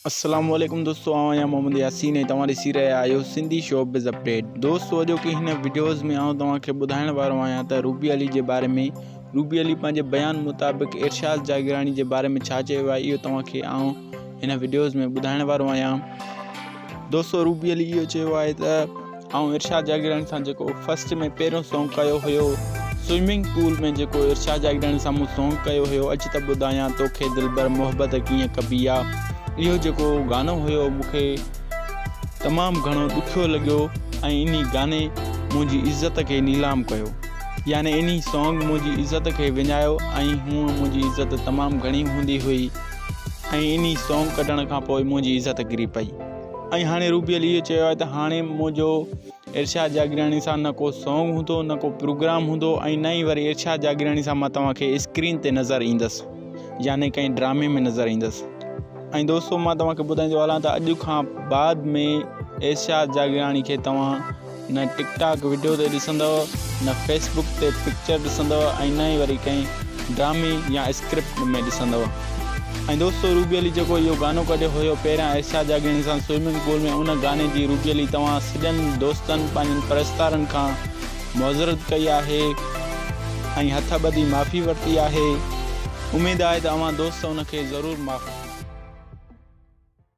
السلام عليڪم دوستو آئون آهيان محمد ياسين ۽ توهان ڏسي رهيا آهيو سنڌي شو بز اپڊيٽ دوستو اڄوڪي هن وڊيوز ۾ آئون توهان کي ٻڌائڻ وارو آهيان ته روبي علي جي باري ۾ روبي علي پنهنجي بيان مطابق ارشاد جاگيراڻي جي باري ۾ ڇا چيو آهي اهو توهان کي آئون هن وڊيوز ۾ ٻڌائڻ وارو آهيان دوستو روبي علي اهو چيو آهي ته آئون ارشاد جاگيراڻي سان جيڪو فرسٽ ۾ پهريون سونگ ڪيو هيو سوئمنگ پول ۾ جيڪو ارشاد جاگيراڻي سان مون سونگ ڪيو هيو اچ ته ٻڌايان توکي دلبر محبت ڪيئن ڪبي آ اهو جيڪو گانو هيو مون کي تمام گهڻو ڏکيو لڳيو ۽ انهي گاني منهنجي عزت کي نيلام ڪيو يعني انهي سونگ منهنجي عزت کي وڃايو ۽ هونء منهنجي عزت تمام گهڻي هوندي هئي ۽ انهي سونگ ڪڍڻ کان پوء منهنجي عزت ڪري پئي ۽ هاڻي روبي علي اهو چيو آهي ته هاڻي منهنجو ارشاد جاگيراڻي سان نه ڪو سانگ هوندو نه ڪو پروگرام هوندو ۽ نه ئي وري ارشاد جاگيراڻي سان مان توهان کي اسڪرين تي نظر ايندس يعني ڪنهن ڊرامي ۾ نظر ايندس ۽ دوستو مان توهان کي ٻڌائيندو هلان ته اڄ کان بعد ۾ ارشاد جاگيراڻي کي توهان نه ٽڪ ٽاڪ وڊيو تي ڏسندؤ، نه فيس بڪ تي پڪچر ڏسندؤ ۽ نه ئي وري ڪنهن ڊرامي يا اسڪرپٽ ۾ ڏسندؤ. ۽ دوستو روبي علي جيڪو اهو گانو ڪڍيو هيو پهريان ارشاد جاگياڻي سان سوئمنگ پول ۾ ان گاني جي روبي علي توهان سڄن دوستن پنهنجن پرستارن کان معذرت ڪئي آهي ۽ هٿ ٻڌي معافي ورتي آهي اميد آهي ته اوهان دوست ان کي ضرور معاف